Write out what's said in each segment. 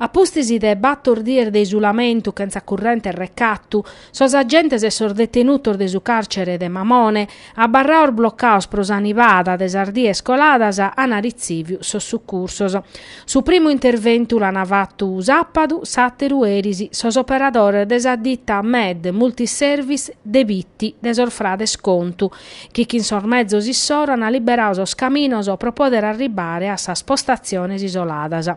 A pustis de bator dies de isulamentu chentza corrente e recatu, sos agentes e sos detenutos de su càrcere de Mamone, abarrados blocados pro sa nivada de sas dies coladas, an ritziviu sos sucursos. Su primu interventu l'ant fatu sàpadu, s'àteru eris, sos operadores de sa dita Med Multiservice de Bitti de sos frades Contu, chi chin sos mezos issoro an liberadu sos caminos pro poder arribare a sas postatziones isoladas.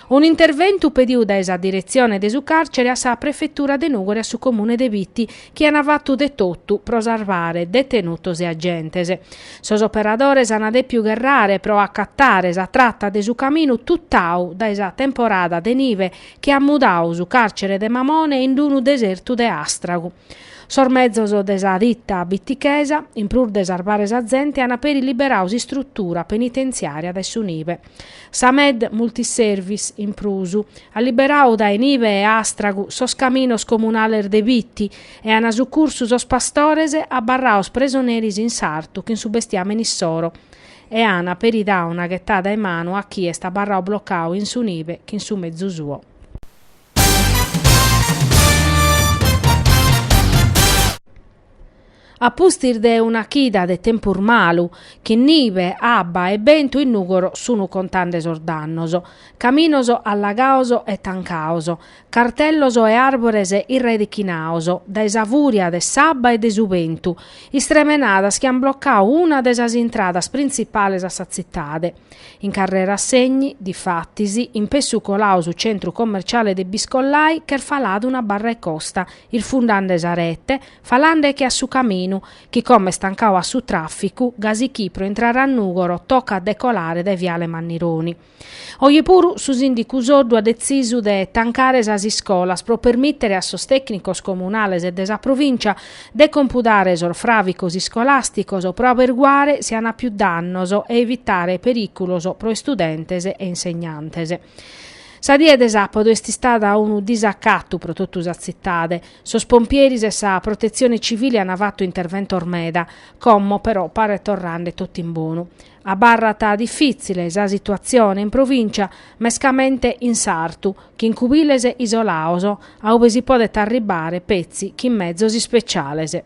Un'interventu pedidu dae sa diretzione de su càrcere a sa Prefetura de Nùgoro e a su Comune de Bitti chi an fatu de totu pro sarvare detenutos e agentes. Sos operadores an dèpiu gherrare pro acatare sa trata de su caminu tutau dae sa temporada de nive chi at mudadu su càrcere de Mamone in unu desertu de àstragu. Sos mezos de sa dita bitichesa, in prus de sarbare sa zente, an peri liberau s'istrutura penitenziaria dae su nibe. Sa Med Multiservice, in prus, at liberau dae nibe e astragu sos caminos comunales de Biti e an sucursu sos pastores abarrados presoneris in sartu chin su bestiamene issoro e an peri dau una ghetada 'e manu a chie est abarrau blocau in su nibe chin su mezu suo. A pustis de una chida de tempus malu, chin nibe, abba e bentu in Nùgoro sunu contande sos dannos. Caminos allagados e tancados, cartellos e àrbores irredichinados dae sa fùria de s'abba e de su bentu, istremenadas chi an blocadu una 'e sas intradas printzipales a sa tzitade. In Carrera Segni, difatis, inpessu coladu su centru commerciale de Biscollai ch'est falada una barra 'e costa, irfundande sa rete, falande che a su caminu, chi como est tancadu a su tràficu, gasi chi pro intrare a Nùgoro tocat de colare dae viale Mannironi. Oje puru su sìndicu Soddu at detzisu de tancare sas iscolas pro permìtere a sos tècnicos comunales e de sa provìncia de compudare sos fràvicos iscolàsticos pro aberguare si an pius dannos e evitare perìculos pro istudentes e insegnantes. Sa die de sàpadu est istada unu disacatu pro totu sa tzitade. Sos pompieris e sa Protetzione Civile an fatu interventos meda, como però paret torrande totu in bonu. Abarrat difìtzile sa situatzione in provìncia, mescamente in sartu, chin cubiles isolados, a ue si podet arribare petzi chin mezos ispeciales.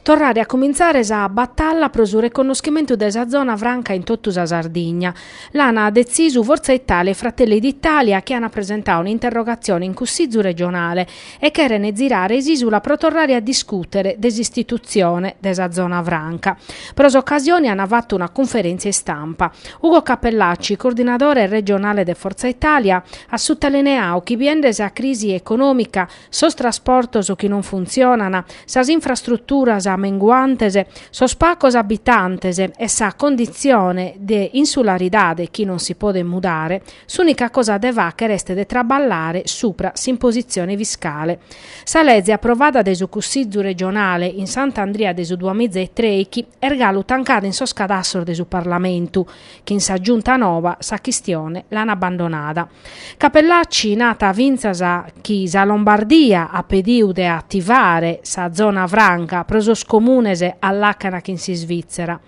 Torrare a cumintzare sa batalla pro su reconnoschimentu de sa zona franca in totu sa Sardigna, l'an detzisu Forza Italia e Fratelli d'Italia chi an presentadu un'interrogatzione in Cussizu regionale e cheren zirare s'isula pro torrare a discùtere de s'istitutzione de sa Zona Franca. Pro s'ocasione an fatu una cunferèntzia istampa. Ugo Cappellacci, coordinadore regionale de Forza Italia, at sutalineadu chi biende sa crisi econòmica, sos trasportos chi non funtzionant, sas infrastruturas menguantes, sos pagos abitantes e sa conditzione de insularidade chi non si podet mudare, S'ùnica cosa de fàghere est de traballare subra s'impositzione fiscale. Sa lege aprovada dae su Cussizu regionale in Sant'Andria de su duamiza e trèichi est galu tancada in sos cadassios de su Parlamentu, chin sa Giunta nova sa chistione l'an abbandonada. Cappellacci narat fintzas chi sa Lombardia at pediu de ativare sa zona franca pro sos comunes a làcana chin s'Isvìtzera.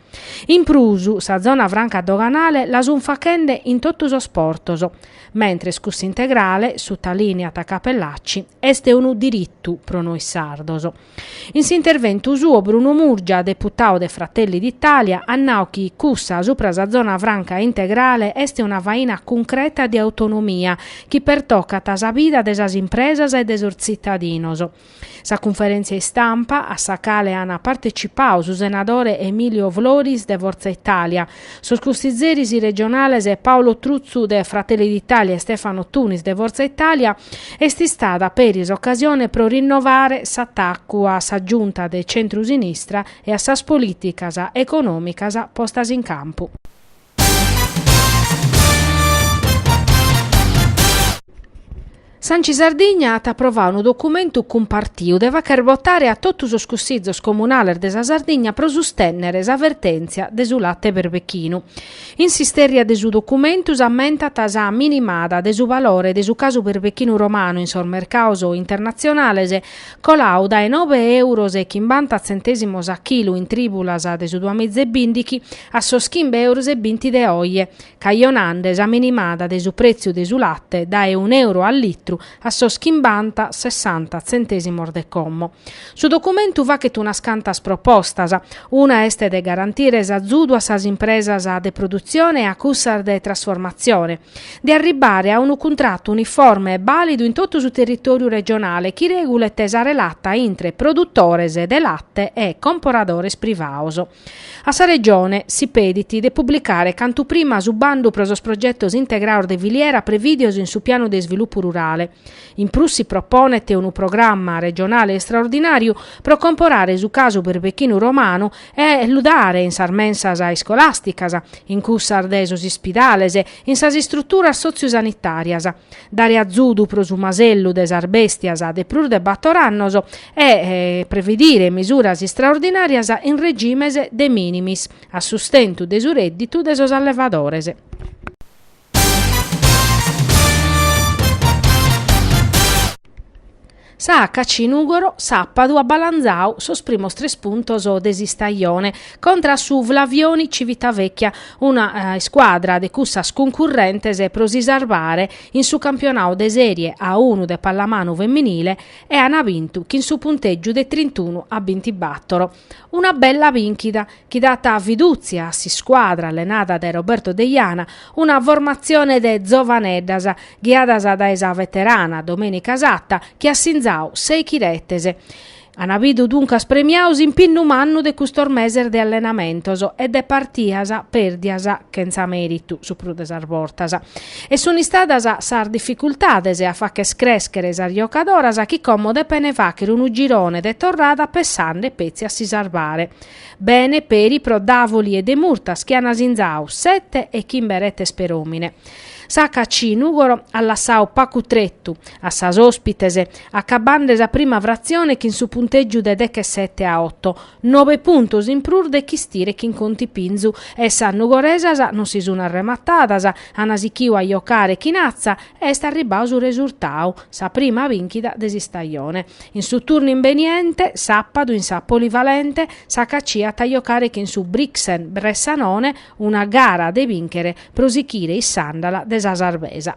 In prus, sa zona franca doganale la sunt faghende in totu sos portos, mentres cussa integrale, sutalìniat Cappellacci, est unu diritu pro nois sardos. In s'interventu suo Bruno Murgia, deputadu de Fratelli d'Italia, at nadu chi cussa supra sa zona franca integrale est una faina cuncreta de autonomia chi pertocat sa bida de sas impresas e de sos tzitadinos. Sa cunferèntzia istampa, a sa cale ant partecipadu su senadore Emilio Floris de Forza Italia, sos cussizeris regionales Paolo Truzzu de Fratelli d'Italia e Stefano Tunis de Forza Italia, est istada peri s'ocasione pro rinnovare s'atacu a sa Giunta de centru-sinistra e a sas polìticas econòmicas postas in campu. S'Anci Sardigna at aprovadu unu documentu cumpartiu de fagher botare a totu sos Cussizos Comunales de sa Sardigna pro sustènnere sa vertèntzia de su late berbechinu. In s'istèrria de su documentu s'ammentat sa minimada de su valore de su casu berbechinu romanu in sos mercados internatzionales, Colau dae nobe euros e chimbanta tzentèsimos a chilu in trìbulas de su duamiza e bìndighi a sos chimbe euros e binti de oje, cajonande sa minimada de su prètziu de su late dae unu euro a litru a sos chimbanta, sessanta tzentèsimos de como. Su documentu faghet unas cantas propostas. Una est de garantire s'azudu a sas impresas de produtzione e a cussas de trasformatzione. de arribbare a unu cuntrattu uniforme e bàlidu in totu su territòriu regionale chi regulet sa relata intre produtores de latte e comporadores privados. A sa Regione si pedit de publicare cantu prima su bandu pro sos progetos integrados de filiera prevìdios in su Pianu de isvilupu rurale. In prus si proponet unu programma regionale istraordinàriu pro comporare su casu berbechinu romanu e lu dare in sas mensas iscolàsticas, in cussas de sos ispidales, in sas istruturas sotziu-sanitàrias, dare azudu pro su masellu de sas bèstias de prus de bator annos e previdire misuras istraordinàrias in regimes de minimis a sustentu de su rèdditu de sos allevadores. Sa HC Nùgoro sàpadu at balanzadu sos primos tres puntos de s'istajone contra a su Flavioni Civitavecchia, una iscuadra de cussas cuncurrentes pro si sarvare in su campionadu de Sèrie A unu de pallamanu feminile e an bintu chin su puntègiu de trintunu a bintibàtoro. Una bella bìnchida chi dat fidùtzia a s'iscuadra allenada dae Roberto Deiana, una formatzione de zovaneddas ghiadas dae sa veterana Domenica Satta chi at sinzau sèichi retes. Ana bidu duncas premiau s'impinnu mannu de custos meses de allenamentos e de partias pèrdias chentza mèritu, su prus de sas bortas. E sunt istadas sas dificultades a fagher crèschere sas giocadoras chi como depene fàghere unu girone de torrada pessande petzi a si sarvare. Bene peri pro Davoli e Demurtas chi ana sinzau sete e chimbe retes per'òmine. Sa HC Nùgoro at lassau pagu tretu a sas òspites, acabande sa prima fratzione chin su puntègiu de dechesete a oto, Nobe puntos in prus de chistire chin contipinzu e sas Nugoresas non si sun arrematadas, an sichiu a jocare chin atza e est arribbau su resurtau, sa prima bìnchida de s'istajone. In su turnu imbeniente, sàpadu, in sa Polivalente, s'HC at a jocare chin su Brixen Bressanone una gara de bìnchere pro sichire in s'àndala de sa sarbesa.